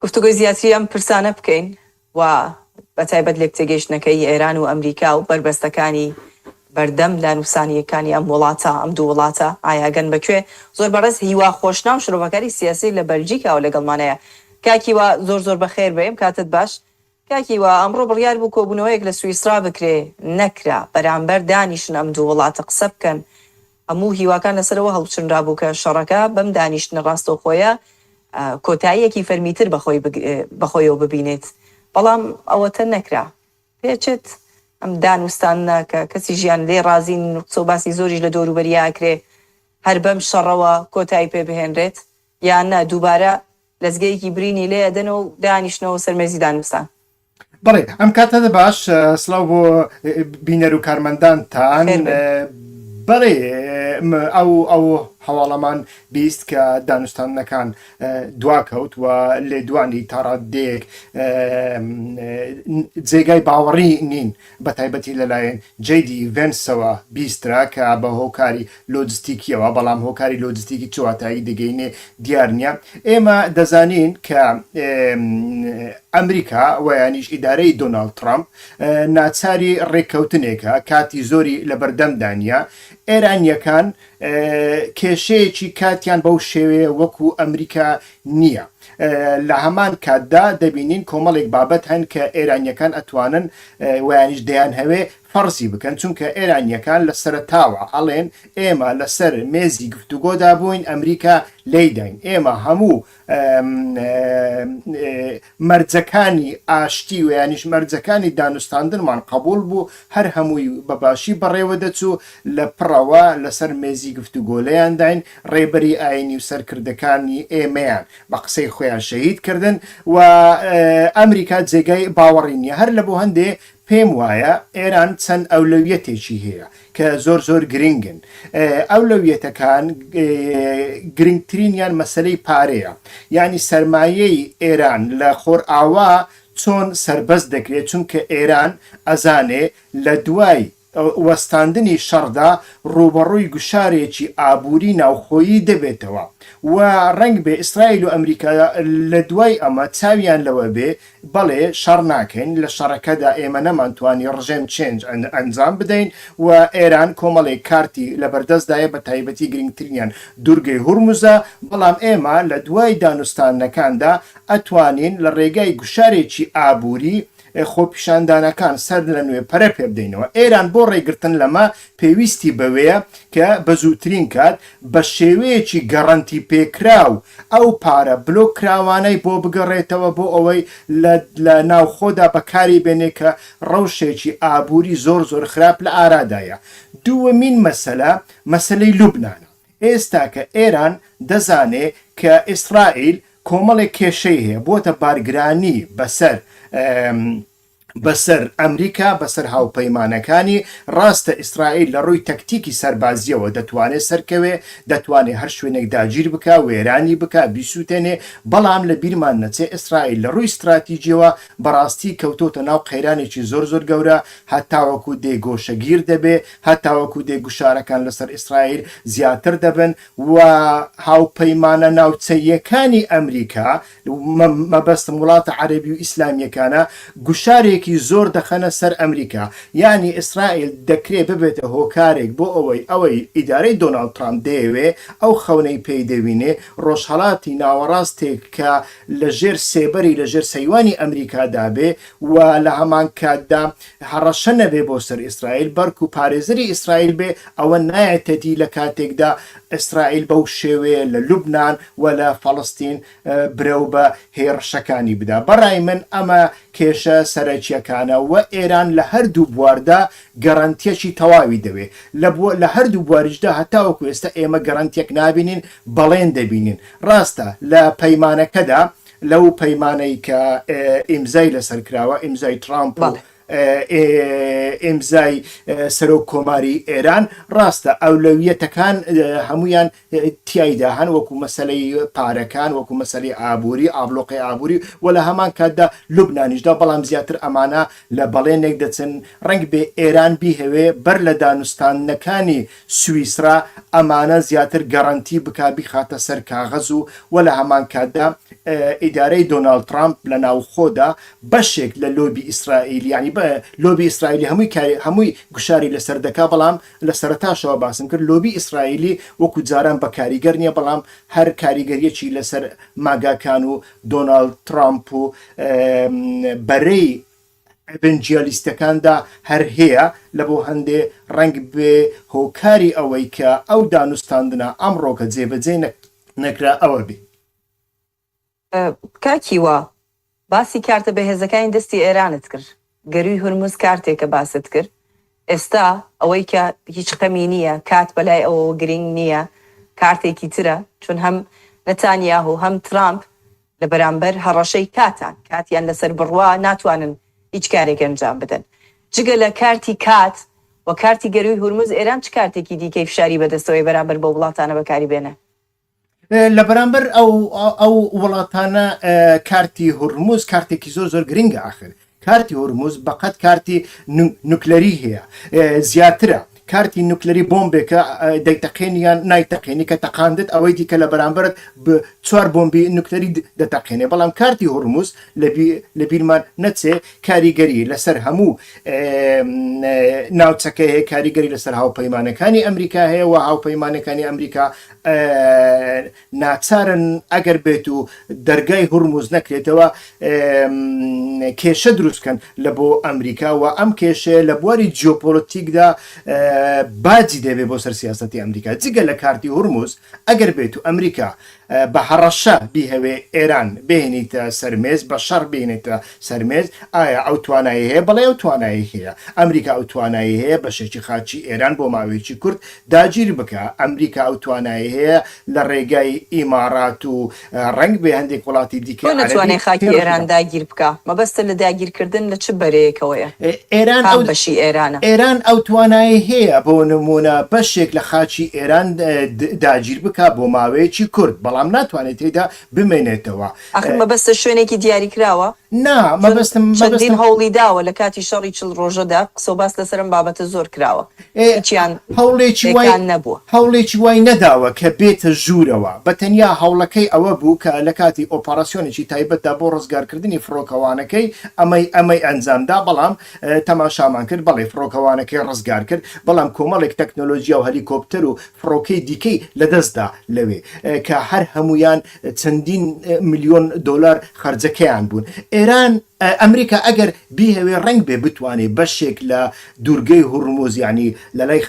گفتوگۆی زیاتری ئەم پرسانە بکەین و بە تایبەت لێکتێگەیشتنەکەی ئێران و ئەمریکا و بەربەستەکانی بەردەم لە نووسانییەکانی ئەم وڵاتە، ئەم دوو وڵاتە ئایا گەن بە کوێ؟ زۆر بەڕێز هیوا خۆشناو شرۆڤەکاری سیاسی لە بەلجیکاوە لەگەڵمانەیە. کاک هیوا زۆر زۆر بەخێر بێی، کاتت باش. کاک هیوا ئەمڕۆ بڕیار بوو کۆبوونەوەیەک لە سویسڕا بکرێ نەکرا بەرامبەر دانیشن ئەم دوو وڵاتە قسە بکەن هەموو هیواکان لەسەر ئەوە هەڵچنرابوو کە شەڕەکە بەم دانیشتنە ڕاستەوخۆیە کۆتاییەکی فەرمیتر بەخۆیەوە ببینێت بەڵام ئەوەتە نەکرا پێچێت ئەم دانوستانە کە کەسی ژیان لێ ڕازی نوقسە و باسی زۆریش لە دەوروبەریا ئەکرێ هەر بەم شەڕەوە کۆتایی پێ بهێنرێت یان نا دووبارە لەزگەیەکی برینی لێ ئەدەن و دانیشنەوەو سەر مێزی دانوستان. بەڵێ ئەم کاتە باش سلاو بۆ بینەر و کارمەندانتان بەڵێ ئەو ئەو هەواڵەمان بیست کە دانوستانەکان دواکەوت و لێدوانی تاڕادێک جێگای باوەڕی نین بە تایبەتی لەلایەن جەی دی ڤێنسەوە بیسترا کە بە هۆکاری لۆجستیکییەوە، بەڵام هۆکاری لۆجستیکی چ واتایەکی دەگەینێ دیار نییە. ئێمە دەزانین کە ئەمریکا و یانیش ئیدارەی دۆناڵد تڕامپ ناچاری ڕێککەوتنێکە کاتی زۆری لە بەردەمدا نییە. ئێرانییەکان کێشەیەکی کاتیان بەو شێوەیە وەکوو ئەمریکا نییە. لە هەمان کاتدا دەبینین کۆمەڵێک بابەت هەن کە ئێرانییەکان ئەتوانن ویانیش دەیان هەوێ فەرزی بکەن چونکە ئێرانییەکان لە سەرتاوە ئەڵێن ئێمە لەسەر مێزی گفتوگۆدا بووین ئەمریکا لێیداین ئێمە هەموو مەرجەکانی ئاشتی ویانیش مەرجەکانی دانوستاندنمان قبول بوو هەر هەمووی بەباشی بەڕێوە دەچوو لە پڕەوە لەسەر مێزی گفتوگۆلەیانداین ڕێبەری ئاینی و سەرکردەکانی ئێمەیان بە قسەی خۆیان شەهید کردن و ئەمریکا جێگای باوەڕی نییە هەر لە بۆ هەندێ پێم وایە ئێران چەند ئەولەویەتێکی هەیە کە زۆر زۆر گرنگن ئەولەویەتەکان گرنگترینیان مەسلەی پارەیە یعنی سەرمایەی ئێران لە خۆر ئاوا چۆن سربەست دەکرێت چونکە ئێران ئەزانێ لە دوای وەستاندنی شەڕدا ڕووبەڕووی گوشارێکی ئابووری ناوخۆیی دەبێتەوە و ڕەنگبێ ئیسرائیل و ئەمریکا لە دوای ئەمە چاویان لەوە بێ بەڵێ شەڕ ناکەین، لە شەڕەکەدا ئێمە نەمانتوانی ڕژێم چێنج ئەنجام بدەین و ئێران کۆمەڵێک کارتی لەبەردەستدایە بە تایبەتی گرنگترینیان دوورگەی هورمزە، بەڵام ئێمە لە دوای دانوستانەکاندا ئەتوانین لە ڕێگای گوشارێکی ئابووری ئێ خۆپیشاندانەکان سەر لە نوێ پەرە پێ بدەینەوە. ئێران بۆ ڕێگرتن لەمە پێویستی بەوەیە کە بە زووترین کات بە شێوەیەکی گەڕەنتی پێکراو ئەو پارە بلۆک کراوانەی بۆ بگەڕێتەوە بۆ ئەوەی لە لە ناوخۆدا بە کاری بێنێ کە ڕەوشێکی ئابووری زۆر زۆر خراپ لە ئارادایە. دووەمین مەسەلە مەسەلەی لوبنانە. ئێستاکە ئێران دەزانێ کە ئیسرائیل کۆمەڵێک کێشەی هەیە بۆتە بارگرانی بەسەر بەسەر ئەمریکا بەسەر هاوپەیمانەکانی ڕاستە ئیسرائیل لە ڕووی تەکتیکی سەربازیەوە دەتوانێت سەرکەوێ دەتوانێت هەر شوێنێک داگیر بک وێرانی بک بیسووتێنێ بەڵام لە بیرمان نەچێ ئیسرائیل لە ڕووی استراتیجیەوە بەڕاستی کەوتۆتە ناو قەیرانێکی زۆر زۆر گەورە هەتاوەکو دێگۆشەگیر دەبێ هەتاوەکو دێگوشارەکان لەسەر ئیسرائیل زیاتر دەبن و هاوپەیمانە ناوچەییەکانی ئەمریکا، مەبەستم وڵاتە عەرەبی و ئیسلامییەکانە، گوشارێکی زۆر دەخەنە سەر ئەمریکا، یانی ئیسرائیل دەکرێ ببێتە هۆکارێک بۆ ئەوەی ئەوەی ئیدارەی دۆناڵد ترامپ دەیەوێ، ئەو خەونەی پێی دەوینێ، ڕۆژهەڵاتی ناوەڕاستێک کە لەژێر سێبەری، لەژێر سەیوانی ئەمریکادا بێ و لە هەمانکاتدا هەڕەشە نەبێ بۆ سەر ئیسرائیل بەرکو پارێزەری ئیسرائیل بێ ئەوە نایەتە دی لە کاتێکدا ئیسرائیل بەو شێوەیە لە لوبنان و لە فەڵستین برەو بە هێڕشەکانی بدا بەڕای من ئەمە کێشە سەرەکیەکانە و ئێران لە هەردوو بواردا گەرەنتیەکی تەواوی دەوێ لە بۆ لە هەردوو بواریشدا هەتاوەکو ئێستا ئێمە گەرەنتیەک نابینین بەڵێن دەبینین ڕاستە لە پەیمانەکەدا لەو پەیمانەی کە ئیمزای لەسەر کراوە ئیمزای ترامپ و ئیمزای سەرۆک کۆماری ئێران ڕاستە ئەولەویەتەکان هەمویان تایدا هەن وەکو مەسلەی پارەکان وەکو مەسلی ئابووری ئابلۆقی ئابووری و لە هەمان کاتدا لوبنانیشدا بەڵام زیاتر ئەمانە لە بەڵێنێک دەچن ڕنگ بێ ئێران بیهەوێ بەر لە دانوستاندنەکانی سویسرا ئەمانە زیاتر گەرەنتی بکا بیخاتە سەر کاغەز و وە لە هەمان کاتدا ئیدارەی دۆناڵد ترامپ لە ناوخۆدا بەشێک لە لۆبی ئیسرائیل یانی لۆبی ئیسرائیلی هەمووی کاری هەمووی گوشاری لەسەر دەکا بەڵام لە سەرەتاشەوە باسم کرد لۆبی ئیسرائیلی وەکو جاران بە کاریگەر نییە بەڵام هەر کاریگەریەکی لەسەر ماگاکان و دۆناڵد ترامپ و بەرەی ئەڤنجیالیستەکاندا هەر هەیە، لە بۆ هەندێ ڕەنگ بێ هۆکاری ئەوەی کە ئەو دانوستاندنە ئەمڕۆکە جێبەجێ نەکرا ئەوە بێ. کاک هیوا باسی کارتە بەهێزەکانی دەستی ئێرانت کرد گەرووی هورمز کارتێکە باست کرد، ئێستا ئەوەی کە هیچ خەمی نییە، کات بەلای ئەوەوە گرینگ نییە، کارتێکی ترە، چون هەم نەتانیاهو و هەم ترامپ لە بەرامبەر هەڕەشەی کاتان، کاتیان لەسەر بڕا، ناتوانن هیچ کارێک ئەنجام بدەن. جگە لە کارتی کات و کارتی گەرووی هورمز، ئێران چ کارتێکی دیکەی فشاری بەدەستەوەیە بەرامبەر بەو وڵاتانە بەکاری بێنێ؟ لە بەرامبەر ئەو ئەو وڵاتانە کارتی هورمز کارتێکی زۆر زۆر گرنگە ئاخر کارتی هورمز بەقەت کارتی نوکلەری هەیە زیاترە کارتی نوکلەری بۆمبێکە دەیتەقێنیان نایتەقێنی کە تەقاندت ئەوەی دیکە لە بەرامبرت چوار بۆمبی نوکلەری دەتەقێنێ بەڵام کارتی هورمز لە بیرمان نەچێ کاریگەری لەسەر هەموو ناوچەکە هەیە کاریگەری لەسەر هاوپەیمانەکانی ئەمریکا هەیە و هاوپەیمانەکانی ئەمریکا ناچارن ئەگەر بێت و دەرگای هورمز نەکرێتەوە کێشە دروستکەن لە بۆ ئەمریکا و ئەم کێشەیە لە بواری جیۆپۆلتیکدا باجی دەبێت بۆ سەر سیاستی ئەمریکا جگە لە کارتی هورمز ئەگەر بێت و ئەمریکا بە هەڕەشە بیهەوێ ئێران بێنیتە سەرمێز بە شەڕ بێنێتە سەرمێز، ئایا ئەو توانایەی هەیە؟ بەڵێ ئەو توانایەی هەیە. ئەمریکا ئەو توانایەی هەیە بەشێکی خاچی ئێران بۆ ماوەیەکی کورت داگیر بکا. ئەمریکا ئەو توانایەی هەیە لە ڕێگای ئیماڕات و ڕەنگبێ هەندێک وڵاتی دیکەی عەرەبی پێوەندی بەخۆی بکا. بۆ نەتوانێ خاکی ئێران داگیر بکا؟ مەبەستت لە داگیر کردن لە چ بەرەیەکەوەیە؟ ئێران ئەو. کام بەشی ئێرانە؟ ئێران ئەو توانایەی هەیە بۆ نموونە بەشێک لە خاچی ئێران داگیر بکا بۆ ماوەیەکی کورت، بەڵام ناتوانێ تێیدا بمێنێتەوە. ئاخر مەبەستت شوێنێکی دیاریکراوە؟ نا، مەبەستم، مەبەستم. چون چەندین هەوڵی داوە لە کاتی شەڕی چل ڕۆژەدا، قسەو باس لەسەر ئەم بابەتە زۆر کراوە، هیچیان هەوڵێکی وای، پێکان نەبووە. هەوڵێکی وای نەداوە کە بێتە ژوورەوە، بە تەنیا هەوڵەکەی ئەوە بوو کە لە کاتی ئۆپەڕاسیۆنێکی تایبەتدا بۆ ڕزگارکردنی فڕۆکەوانەکەی ئەمەی ئەمەی ئەنجامدا، بەڵام تەماشامان کرد، بەڵێ فڕۆکەوانەکەی ڕزگار کرد، بەڵام کۆمەڵێک تەکنۆلۆجیا و هەلیکۆپتەر و فڕۆکەی دیکەی لەدەست دا لەوێ، کە هەر هەموویان چەندین ملیۆن دۆلار خەرجەکەیان بوون. ئێران، ئەمریکا ئەگەر بیهەوێ ڕەنگبێ بتوانێ بەشێک لە دوورگەی هورموز یانی لەلای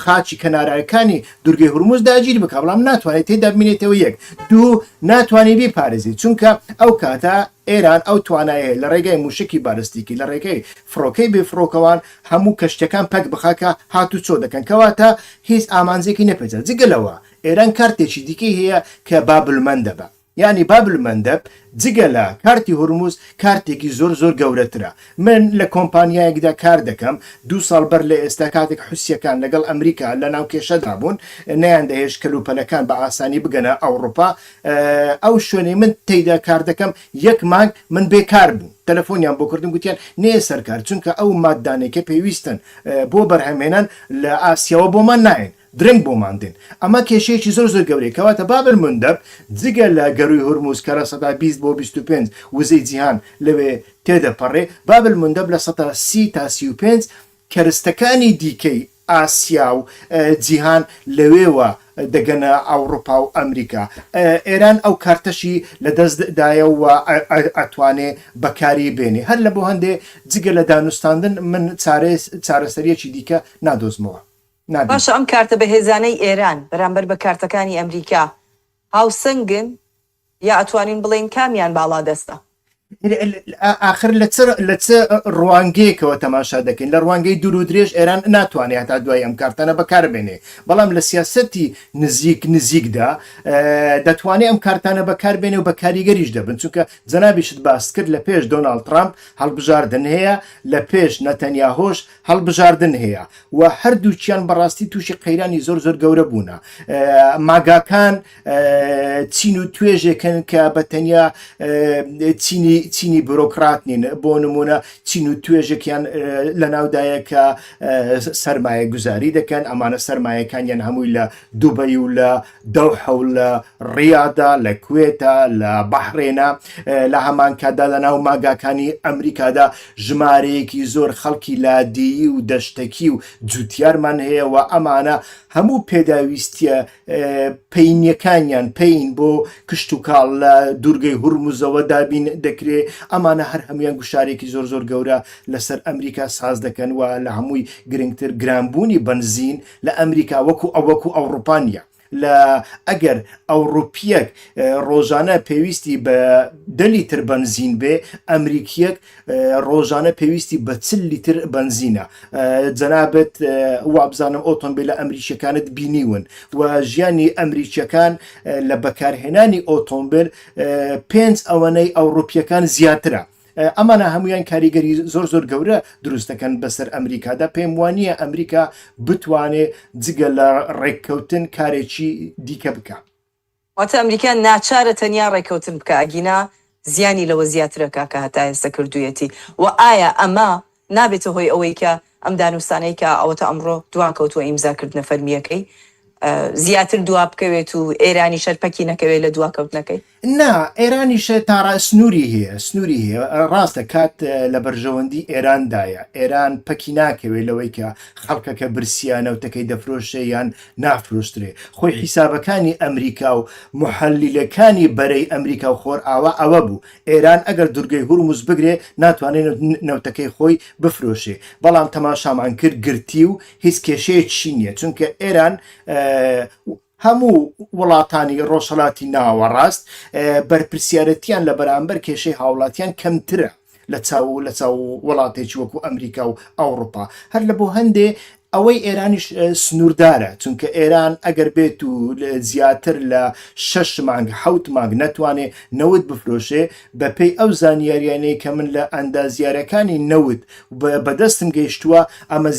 خاچی کەناراوەکانی دورگەی هورمز داگیر بکە بەڵام ناتوانێت تێدا بمینێتەوە یەک دوو ناتوانانی بیپارێزی چونکە ئەو کاتە ئێران ئەو توانایە لە ڕێگای موشکی بالستیکی لە ڕێگەی فڕۆکەی بێفڕۆکەوان هەموو کەشتەکان پەک بخاکە هات و چۆ دەکەن کەواتە هیچ ئامانجێکی نەپێچە جگە لەوە ئێران کارتێکی دیکەی هەیە کە بابلمەندە بە یانی باب المندب جگە لە کارتی هورموز کارتێکی زۆر زۆر گەورەترە من لە کۆمپانیایەکدا کار دەکەم دوو ساڵ بەر لە ئێستا کاتێک حوسیەکان لەگەڵ ئەمریکا لە ناو کێشەدا بوون نەیان دەهێشت کەلوپەلەکان بە ئاسانی بگەنە ئەوڕوپا ئەو شوێنەی من تێیدا کار دەکەم یەک مانگ من بێ کار بووم تەلەفۆنیان بۆ کردم گوتیان نێیە سەر کار چونکە ئەو ماددانەی کە پێویستن بۆ بەرهەمهێنان لە ئاسیاوە بۆمان نایەن درەنگ بۆمان دێن ئەمە کێشەیەکی زۆر زۆر گەورەیە کەواتە باب المندب جگە لە گەرووی هورمز کە لە سەدا بیست بۆ بیست و پێنج وزەی جیهان لەوێ تێدەپەڕێ باب المندب لە سەدا سی تا سی و پێنج کەرستەکانی دیکەی ئاسیا و جیهان لەوێوە دەگەنە ئەوڕوپا و ئەمریکا ئێران ئەو کارتەشی لە دەست دایە و ئەتوانێ بەکاری بێنێ هەر لە بۆ هەندێ جگە لە دانوستاندن من چارەسەریەکی دیکە نادۆزمەوە. نابین. باشە ئەم کارتە بەهێزانەی ئێران بەرامبەر بە کارتەکانی ئەمریکا هاوسەنگن یا ئەتوانین بڵێین کامیان باڵادەستە؟ ئاخر لە چ لە چ ڕوانگەیەکەوە تەماشا دەکەین لە ڕوانگەی دوور و درێژ ئێران ناتوانێت هەتا دوای ئەم کارتانە بەکاربێنێ بەڵام لە سیاستی نزیک نزیکدا دەتوانێت ئەم کارتانە بەکاربێنێ و بە کاریگەریش دەبن چونکە جەنابیشت باست کرد لە پێش دۆناالد ترامپ هەڵبژاردن هەیە لە پێش نەتەنیا هۆش هەڵبژاردن هەیە و هەردووکیان بەڕاستی تووشی قەیرانی زۆر زۆر گەورە بوونە ماگاکان چین و توێژێکن کە بە تەنیا چینی چینی بۆرۆکرات نین بۆ نمونە چین و توێژێکیان لە ناودایە کە سرمایە گوزاری دەکەن ئەمانە سرمایەکانیان هەمووی لە دوبەی و لە دەوحە و لە ڕیادا لە کوێتە لە بەحرێنە لە هەمان کاتدا لە ناو ماگاکانی ئەمریکادا ژمارەیەکی زۆر خەڵکی لادێیی و دەشتەکی و جوتیارمان هەیە و ئەمانە هەموو پێداویستیە پینیەکانیان پین بۆ کشت و کاڵ لە دوورگەی هورمزەوە دابین دەکرێ ئەمانە هەر هەمویان گوشارێکی زۆر زۆر گەورە لەسەر ئەمریکا ساز دەکەن و لە هەمووی گرنگتر گرانبوونی بنزین لە ئەمریکا وەکو ئەو وەکو ئەوڕوپا نیە لە ئەگەر ئەوڕوپیەک ڕۆژانە پێویستی بە دە لیتر بەنزین بێ ئەمریکیەک ڕۆژانە پێویستی بە چل لیتر بەنزینە جەنابەت وابزانم ئۆتۆمبیل لە ئەمریکیەکانت بینیون و ژیانی ئەمریکیەکان لە بەکارهێنانی ئۆتۆمبیل پێنج ئەوەنەی ئەوڕوپیەکان زیاترە ئەمانە هەموویان کاریگەری زۆر زۆر گەورە دروست دەکەن بەسەر ئەمریکادا پێم وانە ئەمریکا بتوانێت جگە لە ڕێککەوتن کارێکی دیکە بکە واتە ئەمریکا ناچارە تەنیا ڕێککەوتن بکە ئەگینا زیانی لەوە زیاترە کاکە هەتا ئێستا کردوویەتی و ئایا ئەمە نابێتە هۆی ئەوەی کە ئەم دانوستانەی کە ئەوەتا ئەمڕۆ دواکەوتووە ئیمزا کردنە فەرمییەکەی زیاتر دوا بکەوێت و ئێرانیش هەر پەکی نەکەوێت لە دواکەوتنەکەی؟ نا، ئێرانیش تا ڕا سنووری هەیە، سنووری هەیە. ڕاستە کات لە بەرژەوەندی ئێراندایە، ئێران پەکی ناکەوێت لەوەی کە خەڵکەکە برسییە نەوتەکەی دەفرۆشێ یان نافرۆشترێ. خۆی حیسابەکانی ئەمریکا و موحەللیلەکانی بەرەی ئەمریکا و خۆرئاوا ئەوە بوو، ئێران ئەگەر دورگەی هورمز بگرێ ناتوانێ نەوتەکەی خۆی بفرۆشێ بەڵام تەماشامان کرد گرتی و هیچ کێشەیەکشی نیە چونکە ئێران هەموو وڵاتانی ڕۆژهەلاتی ناوەڕاست بەرپرسیارەتیان لە بەرامبەر کێشەی هاوڵاتیان کەمترە لە چاو لە چاو وڵاتێکی وەکو ئەمریکا و ئەوروپا هەر لە بۆ هەندێ ئەوەی ئێرانیش سنووردارە چونکە ئێران ئەگەر بێت و زیاتر لە شش مانگ حوت مانگ نەتوانێ نەوت بفرۆشێ بەپێی ئەو زانیاریانەی کە من لە ئەندازیارەکانی نەوت بەدەستم گەیشتووە ئەمە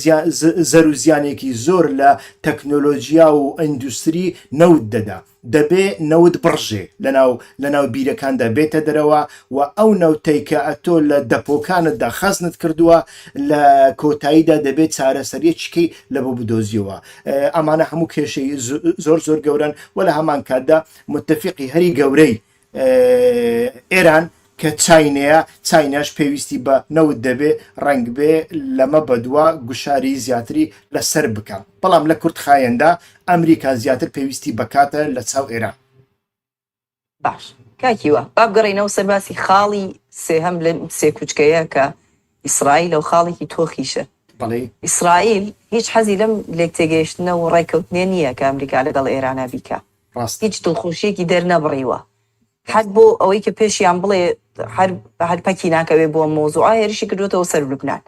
زەرو زیانێکی زۆر لە تەکنۆلۆژیا و ئەندوستری نەوت دەدا دەبێ نەوت بڕژێ لەناو لەناو بیرەکاندا بێتە دەرەوە و ئەو نەوتەی کە ئەتۆ لە دەپۆکانتدا خەزنت کردووە لە کۆتاییدا دەبێت چارەسەریەکیکەی لە بۆ بدۆزیەوە ئەمانە هەموو کێشەی زۆر زۆر گەورەن و لە هەمان کاتدا متفقی هەری گەورەی ئێران کە چاینەیە چاینەش پێویستی بە نەوت دەبێ ڕەنگبێ لەمە بەدووە گوشاری زیاتری لەسەر بکە بەڵام لە کورت خایەندا ئەمریکا زیاتر پێویستی بەکاتە لە چاو ئێران باش کاکیوە بابگەڕینەوە سەرباسی خاڵی سێهەم لە سێکوچکەیە کە ئیسرائیل لەو خاڵێکی تۆخیشە ئیسرائیل هیچ حەزی لەم لێک تێگەیشتنە و ڕێککەوتنێ نییە کە ئەمریکا لەگەڵ ئێرانە بیکە ڕاست هیچ دڵخۆشیەکی دەر نەبڕیوە حەد بۆ ئەوەی کە پێشیان بڵێ هەر هەر پەکی ناکەوێ بۆ مۆزوعە هێرشی کردوێتەوە سەر لوبنان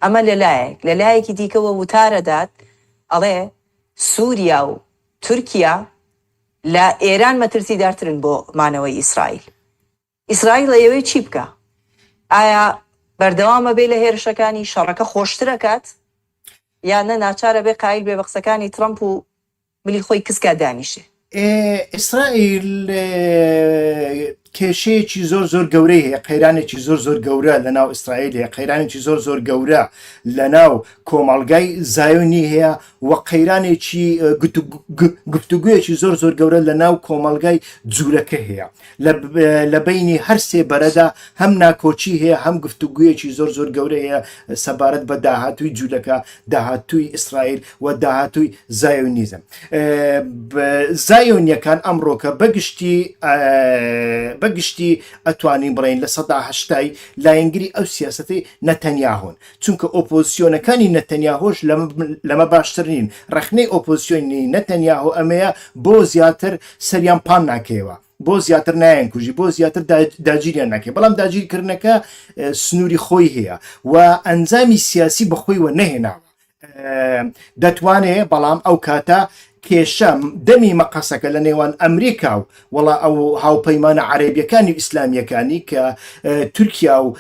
ئەمە لەلایەک لەلایەکی دیکەوە وتارەدات ئەڵێ سووریا و تورکیا لە ئێران مەترسیدارترن بۆ مانەوەی ئیسرائیل. ئیسرائیل ئەیەوێ چی بکا؟ ئایا بەردەوام ئەبێ لە هێرشەکانی، شەڕەکە خۆشتر ئەکات یان نە ناچار ئەبێ قایل بێ بە قسەکانی ترەمپ و ملی خۆی کز کا دانیشێ؟ ئیسرائیل کێشەیەکی زۆر زۆر گەورەی هەیە قەیرانێکی زۆر زۆر گەورە لە ناو ئیسرائیل هەیە قەیرانێکی زۆر زۆر گەورە لە ناو کۆمەڵگای زایۆنی هەیە و قەیرانێکی گفتوگویەکی زۆر زۆر گەورە لە ناو کۆمەلگای جوورەکە هەیە لە بینی هەر سێ بەرەدا هەم ناکۆچی هەیە هەم گفتوگویەکی زۆر زۆر گەورە هەیە سەبارەت بە داهاتووی جوولەکە داهاتووی ئیسرائیل و داهاتووی زایۆنیزم زایۆنیەکان ئەمڕۆکە بەگشتی بەگشتی ئەتوانین بڵین لە سەداهشتای لایەنگری ئەو سیاسەتی نەتەنیا هۆن چونکە ئۆپۆزسیۆنەکانی نەتەنیاهۆش لەمە باشتر نین، ڕەخنەی ئۆپۆزسیۆنی نەتەنیاهۆ ئەمەیە بۆ زیاتر سەریان پان ناکەیەوە، بۆ زیاتر نایەنکوژی، بۆ زیاتر داگیریان ناکەێت، بەڵام داگیرکردنەکە سنووری خۆی هەیە و ئەنجامی سیاسی بەخۆی وە نەهێناوە. دەتوانێت بەڵام ئەو کاتە کێشە دەمی مەقەسەکە لە نێوان ئەمریکا و وەڵا ئەو هاوپەیمانە عەرەبیەکانی و ئیسلامیەکانی کە تورکیا و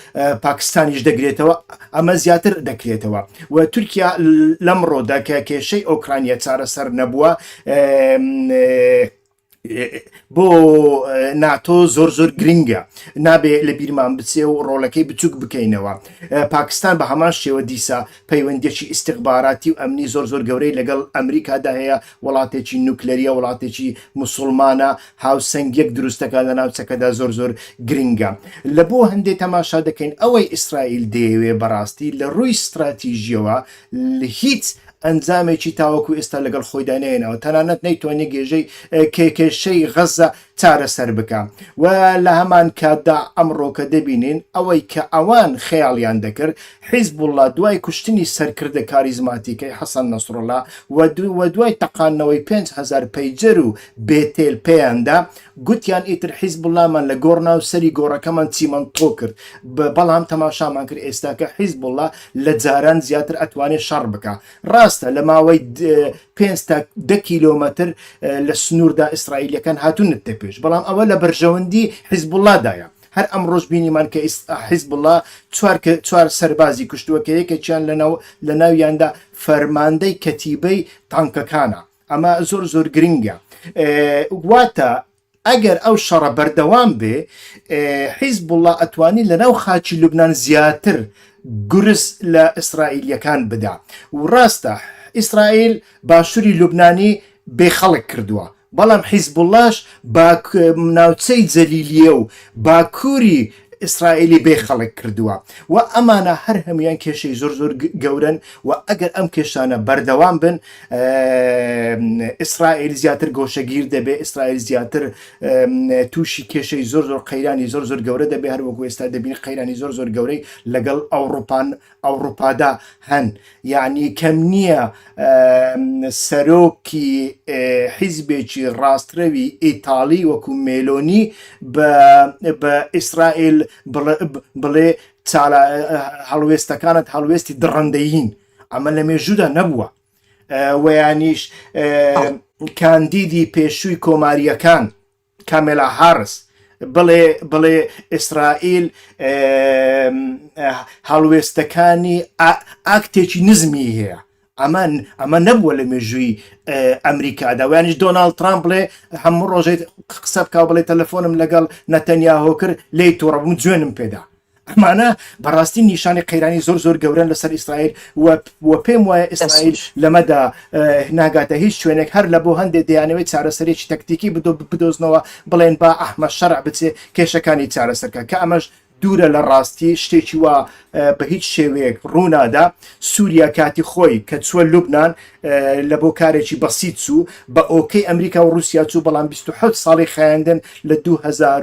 پاکستانیش دەگرێتەوە ئەمە زیاتر دەکرێتەوە و تورکیا لەم ڕۆدا کە کێشەی ئۆکرانیا چارەسەر نەبووە بۆ ناتۆ زۆر زۆر گرنگە نابێ لە بیرمان بچێ و ڕۆلەکەی بچووک بکەینەوە پاکستان بە هەمان شێوە دیسا پەیوەندیەکی ئیستیخباراتی و ئەمنی زۆر زۆر گەورەی لەگەڵ ئەمریکادا هەیە، وڵاتێکی نوکلەریە وڵاتێکی موسوڵمانە هاوسەنگیەک دروستەکا لە ناوچەکەدا زۆر زۆر گرنگە لە بۆ هەندێ تەماشا دەکەین ئەوەی ئیسرائیل دەیەوێ بەڕاستی لە ڕووی ستراتیژیەوە هیچ ئەنجامێکی تاوەکو ئێستا لەگەڵ خۆیدا نەیەنەوە تەنانەت نەیتوانێ گێژەی کێکێشەی غەزە چارەسەر بکا و لە هەمان کاتدا ئەمڕۆکە دەبینین ئەوەی کە ئەوان خەیاڵیان دەکرد حیزبوڵڵا دوای کوشتنی سەرکردە کاریزماتیکەی حەسەن نەسڕڵا و و دوای تەقاندنەوەی پێنج هەزار پەیجەر و بێتێل پێیاندا گوتیان ئیتر حیزبوڵڵامان لە گۆڕ ناو سەری گۆڕەکەمان چیمەنتۆ کرد بەڵام تەماشامان کرد ئێستاکە حیزبوڵڵا لە جاران زیاتر ئەتوانێت شەڕ بکە ڕاستە لە ماوەی پێنج تا دە کیلۆمەتر لە سنووردا ئیسرائیلەکان هاتوونت دە پێش بەڵام ئەوە لە بەرژەوەندی حیزبوڵادایە هەر ئەم ڕۆژ بینیمان کە حیزبڵا چوار سەربازی کوشتووە کە یەکێکیان لەناو لە ناویاندا فەرماندەی کەتیبەی تانکەکانە ئەمە زۆر زۆر گرنگە واتە ئەگەر ئەو شەڕە بەردەوام بێ حیزبوڵا ئەتوانی لەناو خاکی لوبنان زیاتر گورز لە ئیسرائیلیەکان بدا و ڕاستە ئیسرائیل باشوری لوبنانی بێ خەڵک کردووە بەڵام حیزبوڵاش باک ناوچەی جەلیلیە و باکوری ئیسرائیلی بێ خەڵک کردووە و ئەمانە هەر هەموان کێشەی زۆر زۆر گەورن و ئەگەر ئەم کێشانە بەردەوام بن ئیسرائیل زیاتر گۆشەگیر دەبێ ئیسرائیل زیاتر تووشی کێشەی زۆر زۆر قەیرانی زۆر زۆر گەورە دەبێ هەروەکو ئێستا دەبین قەیرانی زۆر زۆر گەورەی لەگەڵ ئەوروپان ئەوڕوپادا هەن یانی کەم نیە سەرۆکی حیزبێکی ڕاستڕەوی ئیتاڵی وەکو مێلۆنی بە ئیسرائیل بڵێ هەڵوێستەکانت هەڵوێستی دڕەندەیین ئەمە لە مێژودا نەبووە وەیانیش کاندیدی پێشووی کۆماریەکان کاملا هارس بڵێ بڵێ ئیسرائیل هەڵوێستەکانی ئاکتێکی نزمی هەیە ئەمان ئەمە نەبووە لە مێژووی ئەمریکادا وانش دۆناالد ترامپ بڵێ هەموو ڕۆژێت قسە بکە بڵێ تەلەفۆنم لەگەڵ نەتەنیا هۆکر لی تووڕبووم جوێنم پێدا ئەمانە بەڕاستی نیشانی قەیرانی زۆر زۆر گەورەن لەسەر ئیسرائیل و پێم وایە ئیسرائیل لەمەدا ناگاتە هیچ شوێنێک هەر لە بۆ هەندێک دەیانەوەی چارەسەرێکی تەکتیکی بدۆ بدۆزنەوە بڵێن با ئەحمە شەر بچێ کێشەکانی چارەسەرکە کە ئەمەش دوورە لە ڕاستی شتێکی وا بە هیچ شێوەیەک ڕوونادا سووریا کاتی خۆی کە چووە لوبناان لە بۆ کارێکی بەسییت چوو بە ئۆکەی ئەمریکا و رووسیا چوو بەڵام 26 ساڵی خایندن لە 2000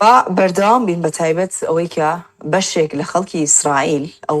با بەردەوام بین بەتایبەت ئەوەی کە بەشێک لە خەڵکی ئیسرائیل ئەو